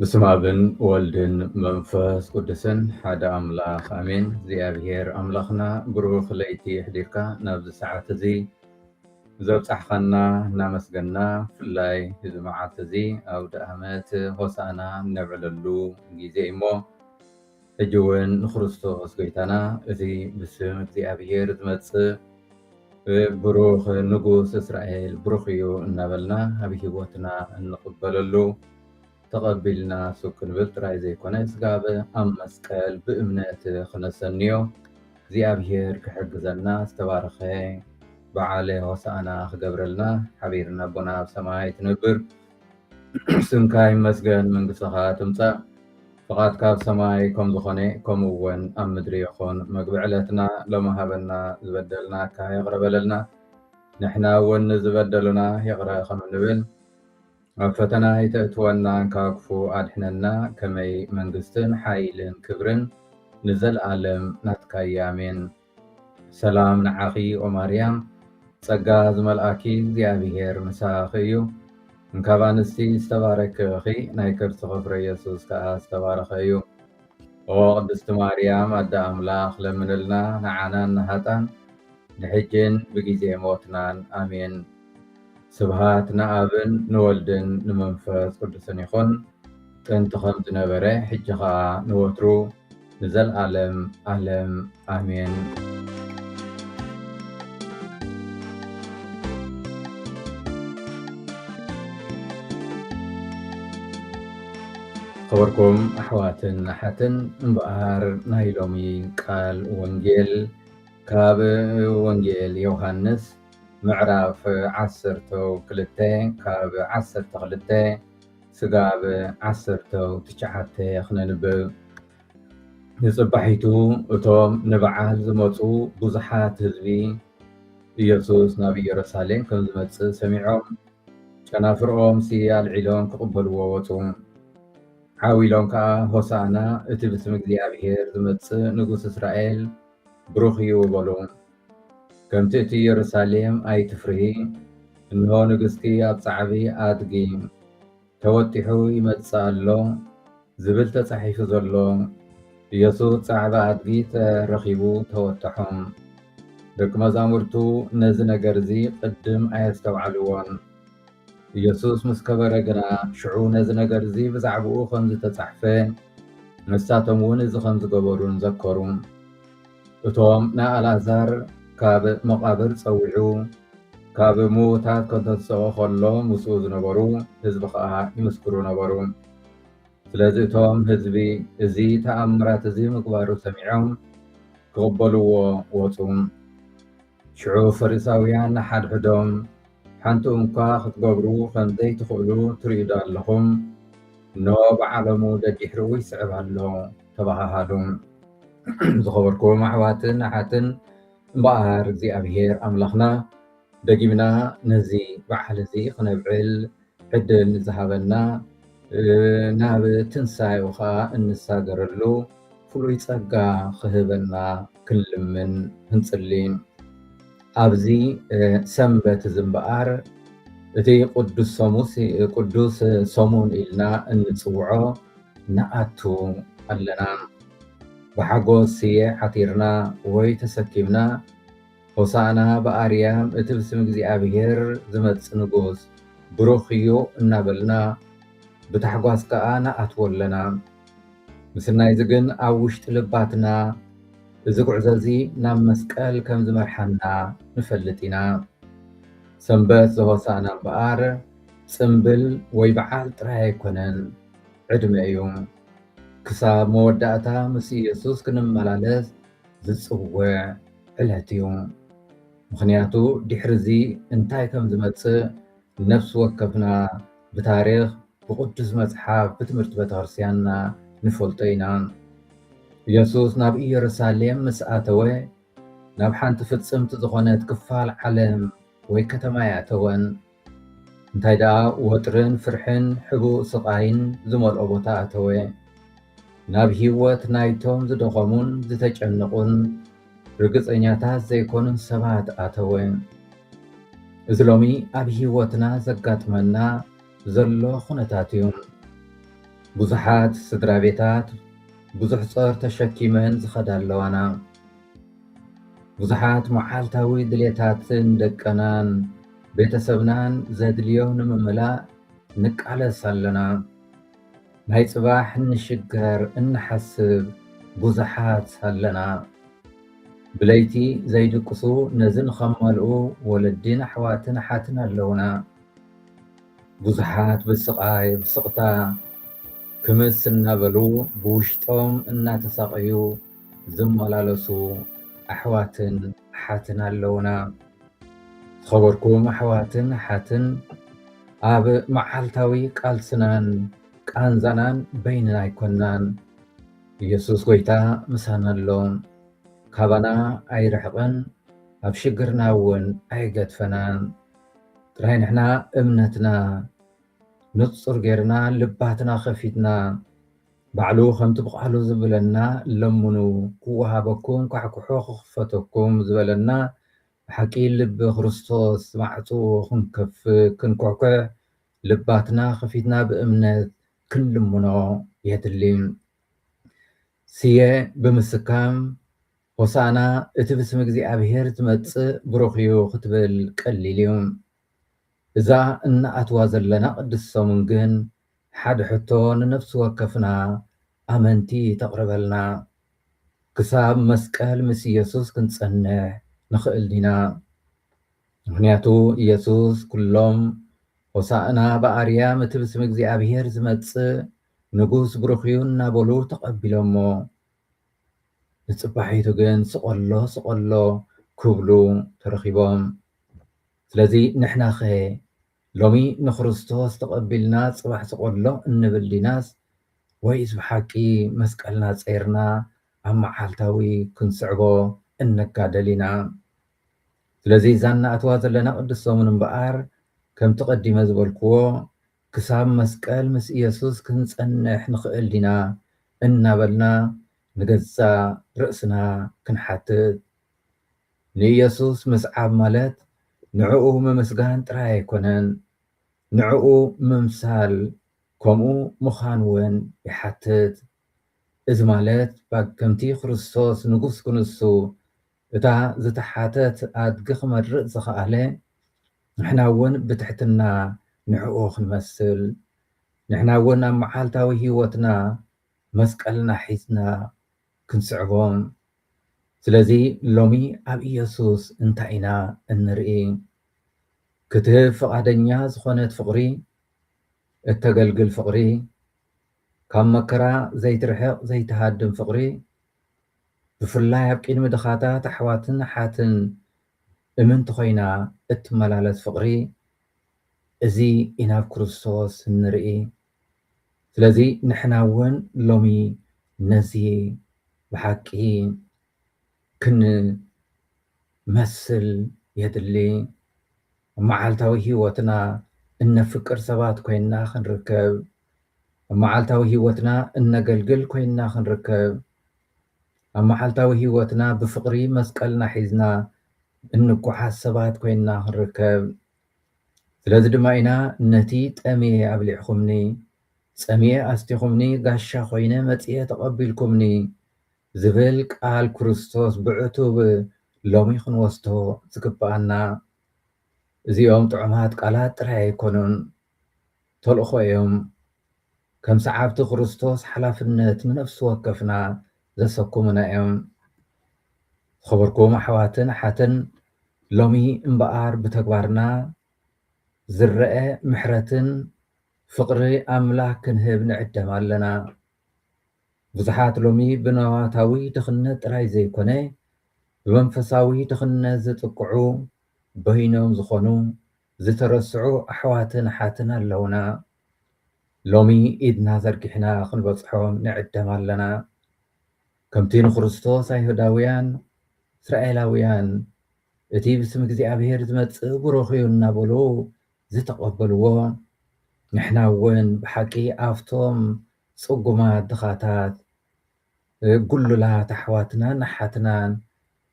በስመ ኣብን ወልድን መንፈስ ቅዱስን ሓደ ኣምላኽ ኣሜን። እግዚኣብሔር ኣምላኽና ብሩኽ ለይቲ የሕዲርካ ናብዚ ሰዓት እዚ ዘብጻሕኻና እናመስገና ብፍላይ እዚ መዓልቲ እዚ ኣውደኣመት ሆሳእና እነብዕለሉ ግዜ እዩሞ ሕጂ እውን ንክርስቶስ ጎይታና እቲ ብስም እግዚኣብሔር ዝመጽእ ብሩኽ ንጉስ እስራኤል ብሩኽ እዩ እናበልና ኣብ ህይወትና እንቕበለሉ ተቐቢልና ሱብ ክንብል ጥራይ ዘይኮነ ስጋብ ኣብ መስቀል ብእምነት ክነሰንዮ እግዚኣብሄር ክሕግዘና ዝተባረኸ በዓለ ሆሳእና ክገብረልና ሓቢርና ኣቦና ኣብ ሰማይ ትነብር ስምካ ይመስገን መንግስትኻ ትምጻእ ፍቓድካ ኣብ ሰማይ ከም ዝኾነ ከምኡ እውን ኣብ ምድሪ ይኹን መግቢ ዕለትና ሎሚ ሃበና ዝበደልናካ ይቕረ በለልና ንሕና እውን ንዝበደሉና ይቕረ ከም እንብል ኣብ ፈተና ኣይተእትወና እንካ ክፉ ኣድሕነና ከመይ መንግስትን ሓይልን ክብርን ንዘልኣለም ናትካያ ኣሜን። ሰላም ንዓኺ ኦማርያም ጸጋ ዝመልኣኪ እግዚኣብሄር ምሳኺ እዩ እንካብ ኣንስቲ ዝተባረኪ እኺ ናይ ከርስኺ ፍረ የሱስ ከኣ ዝተባረኸ እዩ። ኦ ቅድስቲ ማርያም ኣደ ኣምላኽ ለምንልና ንዓናን ንሃጣን ንሕጂን ብጊዜ ሞትናን ኣሜን። ስብሃት ንኣብን ንወልድን ንመንፈስ ቅዱስን ይኹን ጥንቲ ከም ዝነበረ ሕጂ ከኣ ንወትሩ ንዘልኣለም ኣለም ኣሜን። ኸበርኩም ኣሕዋትን ኣሓትን እምበኣር ናይ ሎሚ ቃል ወንጌል ካብ ወንጌል ዮሃንስ ምዕራፍ ዓሰርተ ክልተ ካብ ዓሰርተ ክልተ ስጋብ ዓሰርተ ትሽዓተ ክነንብብ ንጽባሒቱ እቶም ንበዓል ዝመጹ ብዙሓት ህዝቢ፣ ኢየሱስ ናብ ኢየሩሳሌም ከም ዝመጽእ ሰሚዖም፣ ጨናፍርኦምሲ ኣልዒሎም ክቕበልዎ ወጹ። ዓው ኢሎም ከኣ፣ ሆሣዕና፣ እቲ ብስም እግዚኣብሔር ዝመጽእ ንጉሥ እስራኤል ብሩኽ እዩ፣ በሉ። ከምቲ እቲ ኢየሩሳሌም ኣይትፍርሂ፣ እንሆ ንግሥኪ ኣብ ጻዕቢ ኣድጊ። ተወጢሑ ይመጽእ ኣሎ ዝብል ተጻሒፉ ዘሎ ኢየሱስ ጻዕዳ ኣድጊ ተረኺቡ ተወጠሖም። ደቂ መዛሙርቱ ነዚ ነገር እዚ ቅድም ኣየስተውዓልዎን። ኢየሱስ ምስ ከበረ ግና ሽዑ ነዚ ነገር እዚ ብዛዕባኡ ከም ዝተጻሕፈ ንሳቶም እውን እዚ ከም ዝገበሩን ዘከሩ። እቶም ንኣልኣዛር ካብ መቓብር ጸዊዑ ካብ ምዉታት ከንተንስኦ ኸሎ ምስኡ ዝነበሩ ህዝቢ ኸኣ ይምስክሩ ነበሩ። ስለዚ እቶም ህዝቢ እዚ ተኣምራት እዚ ምግባሩ ሰሚዖም ክቕበልዎ ወጹ። ሽዑ ፈሪሳውያን ንሓድሕዶም፣ ሓንቲ እኳ ኽትገብሩ ኸም ዘይትኽእሉ ትርእዩዶ ኣለኹም? እንሆ፣ ብዓለሙ ደዲሕሩ ይስዕብ ኣሎ ተባሃሃሉ። ዝኸበርኩም ኣሕዋትን ኣሓትን፣ እምበኣር እግዚኣብሄር ኣምላኽና ደጊምና ነዚ በዓል እዚ ኽነብዕል ዕድል ንዝሃበና ናብ ትንሳኤኡ ኸኣ እንሳገረሉ ፍሉይ ጸጋ ክህበና ክንልምን ክንጽሊ ኣብዚ ሰንበት እዚ እምበኣር እቲ ቅዱስ ሰሙስ ቅዱስ ሰሙን ኢልና እንጽውዖ ንኣቱ ኣለና። ብሓጎስ ስየ ዓቲርና ወይ ተሰኪምና ሆሣዕና በኣርያም እቲ ብስም እግዚኣብሔር ዝመጽእ ንጉሥ ብሩኽ እዩ እናበልና ብታሕጓስ ከኣ ንኣትዎ ኣለና። ምስናይዚ ግን ኣብ ውሽጢ ልባትና እዚ ጉዕዞ'ዚ ናብ መስቀል ከም ዝመርሓና ንፈልጥ ኢና። ሰንበት ዘሆሣዕና እምበኣር ጽምብል ወይ በዓል ጥራይ ኣይኮነን፣ ዕድመ እዩ። ክሳብ መወዳእታ ምስ ኢየሱስ ክንመላለስ ዝጽውዕ ዕለት እዩ። ምኽንያቱ ድሕሪ እዚ እንታይ ከም ዝመጽእ ነፍሲ ወከፍና ብታሪኽ፣ ብቅዱስ መጽሓፍ፣ ብትምህርቲ ቤተክርስቲያንና ንፈልጦ ኢና። ኢየሱስ ናብ ኢየሩሳሌም ምስ ኣተወ ናብ ሓንቲ ፍጽምቲ ዝኾነት ክፋል ዓለም ወይ ከተማ ኣይኣተወን። እንታይ ደኣ ወጥርን ፍርሕን ሕቡእ ስቓይን ዝመልኦ ቦታ ኣተወ። ናብ ህይወት ናይቶም ዝደኸሙን ዝተጨነቑን ርግጸኛታት ዘይኮኑን ሰባት ኣተወ። እዚ ሎሚ ኣብ ህይወትና ዘጋጥመና ዘሎ ኩነታት እዩ። ብዙሓት ስድራ ቤታት ብዙሕ ጾር ተሸኪመን ዝኸዳ ኣለዋና። ብዙሓት መዓልታዊ ድሌታትን ደቀናን ቤተሰብናን ዘድልዮ ንምምላእ ንቃለስ ኣለና ናይ ጽባሕ ንሽገር እንሓስብ ቡዙሓት ኣለና ብለይቲ ዘይድቅሱ ነዚ ንከማልኡ ወለዲን ኣሕዋትን ኣሓትን ኣለውና ቡዙሓት ብስቃይ ብስቅታ ክምስ እናበሉ ብውሽጦም እናተሳቀዩ ዝመላለሱ ኣሕዋትን ኣሓትን ኣለውና። ዝኸበርኩም ኣሕዋትን ኣሓትን ኣብ መዓልታዊ ቃልስናን ቃንዛናን በይንና ኣይኮናን። ኢየሱስ ጎይታ ምሳና ኣሎ። ካባና ኣይርሕቕን፣ ኣብ ሽግርና እውን ኣይገድፈናን። ጥራይ ንሕና እምነትና ንጹር ጌርና ልባትና ከፊትና ባዕሉ ከምቲ ብቃሉ ዝብለና ለምኑ ክወሃበኩም ኳሕኩሑ ክኽፈተኩም ዝበለና ብሓቂ ልቢ ክርስቶስ ማዕጹ ክንከፍት ክንኩሕኩሕ ልባትና ከፊትና ብእምነት ክንልምኖ የድሊ ስየ ብምስካም ሆሳእና እቲ ብስም እግዚኣብሔር ዝመጽእ ብሩኽ እዩ ክትብል ቀሊል እዩ እዛ እናኣትዋ ዘለና ቅድስት ሰሙን ግን ሓደ ሕቶ ንነፍሲ ወከፍና ኣመንቲ ተቕርበልና፣ ክሳብ መስቀል ምስ ኢየሱስ ክንጸንሕ ንኽእል ዲና? ምኽንያቱ ኢየሱስ ኩሎም ሆሣእና በኣርያም እቲ ብስም እግዚኣብሔር ዝመጽእ ንጉሥ ብሩኽ እዩ እናበሉ ተቐቢሎሞ ንጽባሒቱ ግን ስቐሎ ስቐሎ ክብሉ ተረኺቦም። ስለዚ ንሕናኸ ሎሚ ንክርስቶስ ተቐቢልና ጽባሕ ዝቖድሎ እንብል ዲናስ ወይስ ብሓቂ መስቀልና ጸይርና ኣብ መዓልታዊ ክንስዕቦ እንጋደል ኢና? ስለዚ እዛ እንኣትዋ ዘለና ቅድስት ሰሙን እምበኣር ከምቲ ቀዲመ ዝበልክዎ ክሳብ መስቀል ምስ ኢየሱስ ክንጸንሕ ንኽእል ዲና እናበልና ንገዛእ ርእስና ክንሓትት ንኢየሱስ ምስዓብ ማለት ንዕኡ ምምስጋን ጥራይ ኣይኮነን፣ ንዕኡ ምምሳል ከምኡ ምዃን ውን ይሓትት። እዚ ማለት ከምቲ ክርስቶስ ንጉስ ክንሱ እታ ዝተሓተት ኣድጊ ክመርጽ ዝኸኣለ፣ ንሕና ውን ብትሕትና ንዕኡ ክንመስል፣ ንሕና ውን ኣብ መዓልታዊ ሕይወትና መስቀልና ሒዝና ክንስዕቦ። ስለዚ ሎሚ ኣብ ኢየሱስ እንታይ ኢና እንርኢ? ክትህብ ፍቓደኛ ዝኾነት ፍቕሪ፣ እተገልግል ፍቕሪ፣ ካብ መከራ ዘይትርሕቕ ዘይትሃድም ፍቕሪ፣ ብፍላይ ኣብ ቅድሚ ድኻታት ኣሕዋትን ኣሓትን እምንቲ ኮይና እትመላለስ ፍቕሪ፣ እዚ ኢና ኣብ ክርስቶስ እንርኢ። ስለዚ ንሕና እውን ሎሚ ነዚ ብሓቂ ክንመስል የድሊ። ኣብ መዓልታዊ ህይወትና እነፍቅር ሰባት ኮይንና ክንርከብ፣ ኣብ መዓልታዊ ህይወትና እነገልግል ኮይንና ክንርከብ፣ ኣብ መዓልታዊ ህይወትና ብፍቕሪ መስቀልና ሒዝና እንጓዓዝ ሰባት ኮይንና ክንርከብ ስለዚ ድማ ኢና ነቲ ጠምየ ኣብሊዕኹምኒ፣ ጸሚኤ ኣስቲኹምኒ፣ ጋሻ ኾይነ መጺኤ ተቐቢልኩምኒ ዝብል ቃል ክርስቶስ ብዕቱብ ሎሚ ክንወስዶ ዝግብኣና። እዚኦም ጥዑማት ቃላት ጥራይ ኣይኮኑን፣ ተልእኾ እዮም። ከም ሰዓብቲ ክርስቶስ ሓላፍነት ንነፍሲ ወከፍና ዘሰኩሙና እዮም። ዝኸበርኩም ኣሕዋትን ኣሓትን ሎሚ እምበኣር ብተግባርና ዝረኣ ምሕረትን ፍቕሪ ኣምላኽ ክንህብ ንዕደም ኣለና። ብዙሓት ሎሚ ብንዋታዊ ድኽነት ጥራይ ዘይኮነ ብመንፈሳዊ ድኽነት ዝጥቅዑ በይኖም ዝኾኑ ዝተረስዑ ኣሕዋትን ኣሓትን ኣለውና ሎሚ ኢድና ዘርጊሕና ክንበጽሖም ንዕደም ኣለና ከምቲ ንክርስቶስ ኣይሁዳውያን እስራኤላውያን እቲ ብስም እግዚኣብሔር ዝመጽእ ብሩኽ እዩ እናበሉ ዝተቐበልዎ ንሕና እውን ብሓቂ ኣብቶም ጽጉማት ድኻታት ጉሉላት ኣሕዋትናን ኣሓትናን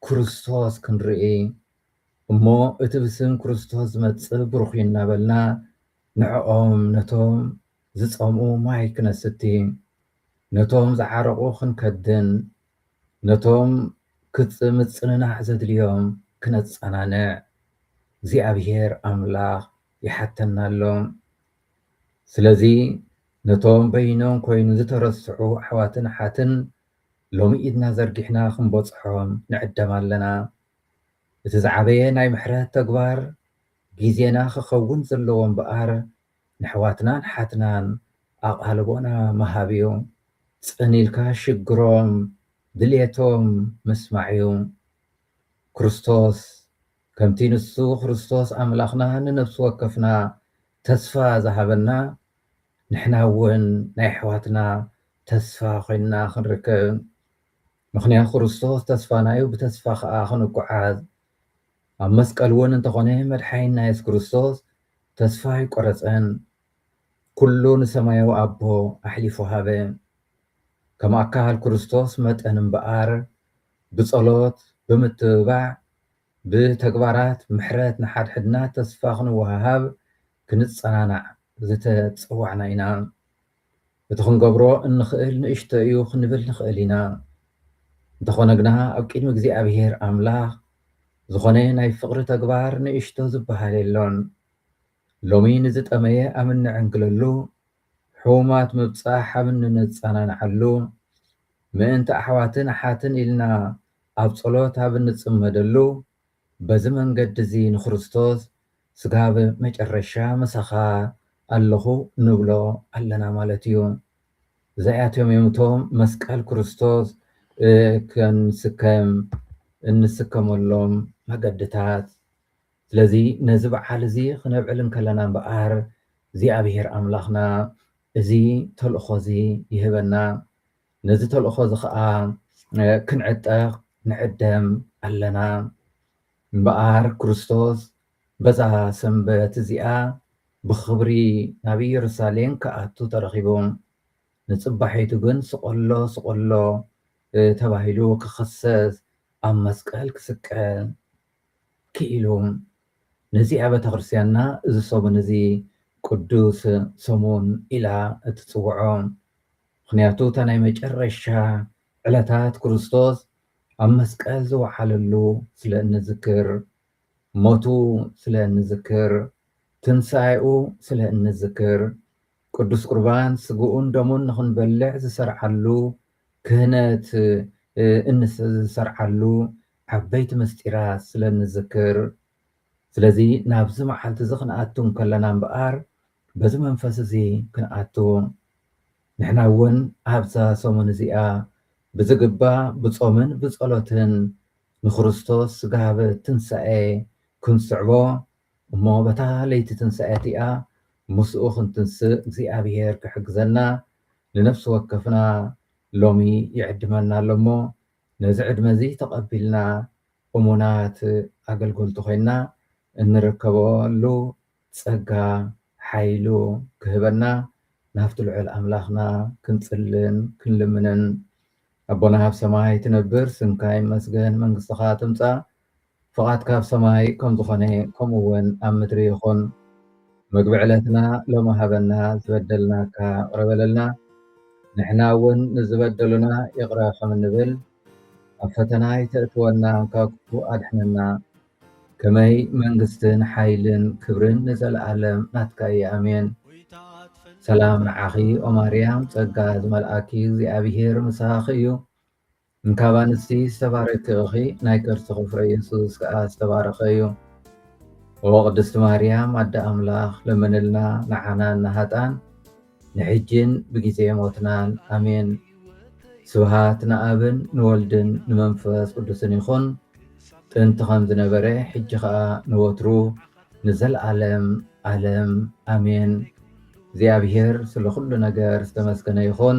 ክርስቶስ ክንርኢ እሞ እቲ ብስም ክርስቶስ ዝመጽእ ብሩኽ እዩ እናበልና ንዕኦም ነቶም ዝጸምኡ ማይ ክነስቲ ነቶም ዝዓረቑ ክንከድን ነቶም ክጽ ምጽንናዕ ዘድልዮም ክነጸናንዕ እግዚኣብሔር ኣምላኽ ይሓተና ኣሎ ስለዚ ነቶም በይኖም ኮይኑ ዝተረስዑ ኣሕዋትን ኣሓትን ሎሚ ኢድና ዘርጊሕና ክንበጽሖም ንዕደም ኣለና። እቲ ዝዓበየ ናይ ምሕረት ተግባር ጊዜና ክኸውን ዘለዎ እምበኣር ነሕዋትናን ኣሓትናን ኣቓልቦና ምሃብ እዩ። ጽን ኢልካ ሽግሮም ድልየቶም ምስማዕ እዩ። ክርስቶስ ከምቲ ንሱ ክርስቶስ ኣምላኽና ንነብሲ ወከፍና ተስፋ ዝሃበና ንሕና እውን ናይ ኣሕዋትና ተስፋ ኮይንና ክንርከብ ምኽንያ ክርስቶስ ተስፋናዩ ብተስፋ ከኣ ክንጉዓዝ ኣብ መስቀል ውን እንተኾነ መድሓይንና የሱስ ክርስቶስ ተስፋ ኣይቆረጸን ኩሉ ንሰማያዊ ኣቦ ኣሕሊፉ ሃበ ከም ኣካል ክርስቶስ መጠን እምበኣር ብጸሎት ብምትብባዕ ብተግባራት ምሕረት ንሓድሕድና ተስፋ ክንወሃሃብ ክንጸናናዕ ዝተጸዋዕና ኢና እቲ ክንገብሮ እንኽእል ንእሽቶ እዩ ክንብል ንኽእል ኢና። እንተኾነ ግና ኣብ ቅድሚ እግዚኣብሄር ኣምላኽ ዝኾነ ናይ ፍቕሪ ተግባር ንእሽቶ ዝበሃል የሎን። ሎሚ ንዝጠመየ ኣብ እንዕንግለሉ፣ ሕሙማት ምብጻሕ ኣብ እንነጸናንዓሉ፣ ምእንቲ ኣሕዋትን ኣሓትን ኢልና ኣብ ጸሎት ኣብ እንጽመደሉ፣ በዚ መንገዲ'ዚ ንክርስቶስ ስጋብ መጨረሻ ምሳኻ ኣለኹ ንብሎ ኣለና ማለት እዩ። እዛኣቶም እዮም እቶም መስቀል ክርስቶስ ክንስከም እንስከመሎም መገዲታት። ስለዚ ነዚ በዓል እዚ ክነብዕል እንከለና እምበኣር እግዚኣብሔር ኣምላኽና እዚ ተልእኾ እዚ ይህበና። ነዚ ተልእኾ እዚ ኸኣ ክንዕጠቕ ንዕደም ኣለና። እምበኣር ክርስቶስ በዛ ሰንበት እዚኣ ብኽብሪ ናብ ኢየሩሳሌም ክኣቱ ተረኺቡ። ንጽባሒቱ ግን ስቐሎ ስቐሎ ተባሂሉ ክኽሰስ ኣብ መስቀል ክስቀል ክኢሉ። ነዚኣ ቤተ ክርስቲያንና እዚ ሰሙን እዚ ቅዱስ ሰሙን ኢላ እትጽውዖ። ምኽንያቱ እታ ናይ መጨረሻ ዕለታት ክርስቶስ ኣብ መስቀል ዝወዓለሉ ስለ እንዝክር፣ ሞቱ ስለ እንዝክር፣ ትንሳኤኡ ስለ እንዝክር፣ ቅዱስ ቁርባን ስግኡን ደሙን ንኽንበልዕ ዝሰርዓሉ ክህነት እንሰርዓሉ ዓበይቲ ምስጢራት ስለ እንዝክር ስለዚ ናብዚ መዓልቲ እዚ ክንኣቱ እንከለና እምበኣር በዚ መንፈስ እዚ ክንኣቱ ንሕና እውን ኣብዛ ሰሙን እዚኣ ብዝግባእ ብጾምን ብጸሎትን ንክርስቶስ ስጋብ ትንሳኤ ክንስዕቦ እሞ በታ ለይቲ ትንሳኤ እቲኣ ምስኡ ክንትንስእ እግዚኣብሔር ክሕግዘና ንነፍሲ ወከፍና ሎሚ ይዕድመና ኣሎ እሞ ነዚ ዕድመ እዚ ተቐቢልና እሙናት ኣገልገልቱ ኮይንና እንርከበሉ ጸጋ ሓይሉ ክህበና ናብቲ ልዑል ኣምላኽና ክንጽልን ክንልምንን ኣቦና ኣብ ሰማይ ትነብር ስምካ ይመስገን መንግስትኻ ትምጻእ ፍቓድካ ኣብ ሰማይ ከም ዝኾነ ከምኡ እውን ኣብ ምድሪ ይኹን ምግቢ ዕለትና ሎሚ ሃበና ዝበደልናካ ይቕረ በለልና ንሕና እውን ንዝበደሉና ይቕረ ከም እንብል ኣብ ፈተና ይተእትወና ካብ ክፉእ ኣድሕነና ከመይ መንግስትን ሓይልን ክብርን ንዘልኣለም ናትካ እየ ኣሜን። ሰላም ንዓኺ ኦማርያም ጸጋ ዝመልኣኪ እግዚኣብሄር ምሳኺ እዩ እንካብ ኣንስቲ ዝተባረኪ እኺ ናይ ከርስኺ ፍረ የሱስ ከኣ ዝተባረኸ እዩ ኦ ቅድስቲ ማርያም ኣደ ኣምላኽ ለምንልና ንዓናን ንሃጣን ንሕጂን ብጊዜ ሞትናን ኣሜን። ስብሃት ንኣብን ንወልድን ንመንፈስ ቅዱስን ይኹን ጥንቲ ከም ዝነበረ ሕጂ ከኣ ንወትሩ ንዘልኣለም ኣለም ኣሜን። እግዚኣብሄር ስለ ኩሉ ነገር ዝተመስገነ ይኹን።